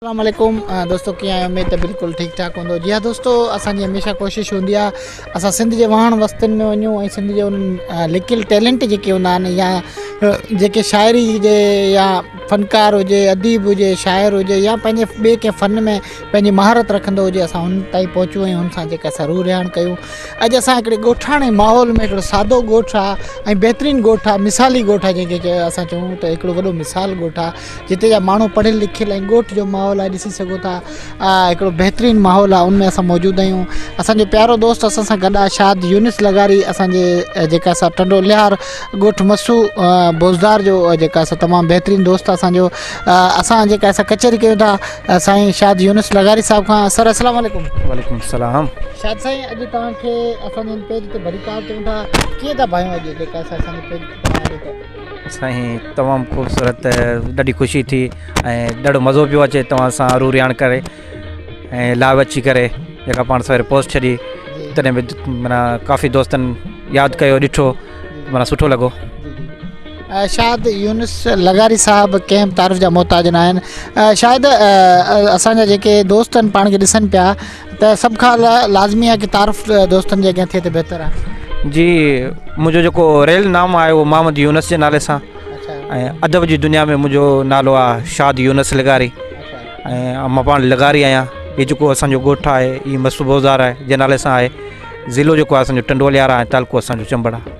اسلام عليڪم دوستو ڪيئن آهيو اميد ته بلڪل ٺيڪ ٺاڪ هوندو جي ها دوستو اسان جي هميشه ڪوشش هوندي آهي اسان سنڌ جي واهڻ وستين ۾ وڃون ۽ سنڌ جي انهن لڪيل ٽيلنٽ جيڪي هوندا آهن يا جيڪي شاعري جي يا فنڪار هجي اديب هجي شاعر هجي يا پنهنجي ٻئي ڪنهن فن ۾ پنهنجي مهارت رکندو هجي اسان هن تائين پهچون ۽ هن سان جيڪا سا روح رهاڻ ڪيون اڄ اسان هڪڙي ڳوٺاڻي ماحول ۾ هڪڙو سادو ڳوٺ آهي ۽ بهترين ڳوٺ آهي مثالي ڳوٺ آهي جنهن کي اسان چئون ته هڪڙو وڏو مثال ڳوٺ آهي جتي جا ماڻهو پڙهيل لکيل ۽ ڳوٺ جو ماحول آهي ڏسي سگهو ٿا هڪڙو بهترين ماحول آهي ان ۾ اسان موجود آهيون اسانجو پيارو دوست اسان سان گڏ آهي شاد يونس لغاري اسانجي جيڪا اسان ٽنڊو ليار ڳوٺ مسو بوزدار جو جيڪا اسان تمام بهترين دوست اسانجو اسان جيڪا اسان ڪچهري ڪيون ٿا سائين شاد يونس لغاري صاحب کان سر السلام عليڪم وعليڪم السلام شاد سائين اڄ توهان کي اسانجي پيج تي ڀليڪار چون ٿا ڪيئن ٿا ڀايون اڄ جيڪا اسانجي پيج تي سائين تمام خوبصورت ڏاڍي خوشي ٿي ۽ ڏاڍو مزو پيو اچي توهان سان رو رياڻ ڪري ۽ لائو اچي ڪري جيڪا پاڻ سويري پوسٽ ڇڏي تڏهن به مانا ڪافي دوستن ياد ڪيو ڏٺو مانا سٺو لڳو شايد يونس لغاري صاحب ڪنهن به تعارف جا محتاج ناهن شايد اسان جا جيڪي دوست آهن پاڻ کي ڏسن پيا ته سڀ کان لا لازمي آهي ڪي تعارف دوستن جي اڳيان ٿئي ته بهتر آهي. جي منهنجو جيڪو ريل نام آهي اهو محمد يونس جي نالي سان ۽ ادب جي دنيا ۾ منهنجو نالو آهي شاد يونس لغاري ۽ مان پاڻ لغاري آهيان هي جيڪو اسانجو ڳوٺ آهي هي مستبوزار آهي جي نالي سان آهي ضلعو جيڪو آهي اسانجو ٽنڊوليار آهي تعلقو اسانجو چمبڙ آهي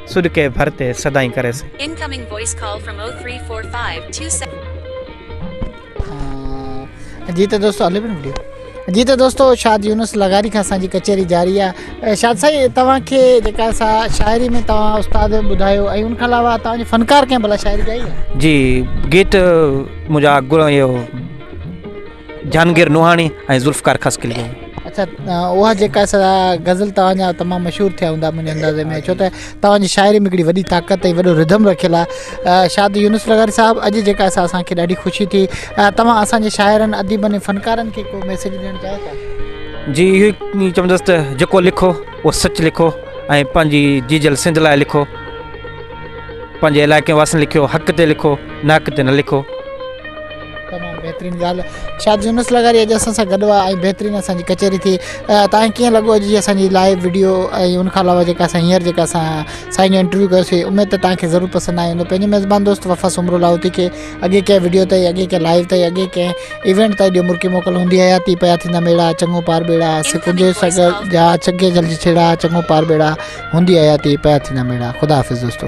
سڏ ڪئي ڀر تي سدائين ڪري سي. Incoming voice call from O three four five two seven. جي ته دوستو هلي پڻ ويڊيو. جي ته دوستو شاد يونس لغاري کان اسان جي ڪچهري جاري آهي شاد سائين توهان کي جيڪا سا شاعري ۾ توهان استاد ٻڌايو ۽ ان کان علاوه توهان جي فنڪار ڪنهن ڀلا شاعري ڳائي آهي جي گيت مجا گرو ايو. جھانگير نوحاڻي ۽ ذوالفقار خاصخيلي. اڇا اها جيڪا سدا غزل توهان جا تمام مشهور ٿيا هوندا منهنجي اندازي ۾ ڇو ته توهان جي شاعري ۾ هڪڙي وڏي طاقت ۽ وڏو رڌم رکيل آهي شاد يونس لغاري صاحب اڄ جيڪا سا اسان کي ڏاڍي خوشي ٿي توهان اسان جي شاعرن اديبن ۽ فنڪارن کي ڪو ميسيج ڏيڻ چاهيو ٿا جي اهو ئي چوندس ته جيڪو لکو اهو سچ لکو ۽ پنهنجي جيجل سنڌ لاء لکو پنهنجي علائقي واسين لکيو حق تي لکو ناحق تي نه لکو تمام بهترين ڳالهه شاد يونس لغاري اڄ اسان سان گڏ آهي ۽ بهترين اسان جي ڪچهري ٿي تاڪي ڪيئن لڳو اڄ جي اسان جي لائيو ويڊيو ۽ ان کان علاوه جيڪا اسان هينئر جيڪا اسان سائين جو انٽرويو ڪيوسي اميد ته تاکي ضرور پسند آيو هوندو پنهنجي ميزبان دوست وفا سمرو لاهوتي کي اڳي ڪنهن ويڊيو تي اڳي ڪنهن لائيو تي اڳي ڪنهن ايونٽ تي جو مرڪي موڪل هوندي حياتي پيا ٿيندا ميڙا چڱو پار ٻيڙا سڪون جي سگل جا چگي جلدي ڇيڙا چڱو پار ٻيڙا هوندي حياتي پيا ٿيندا ميڙا خدا حافظ دوستو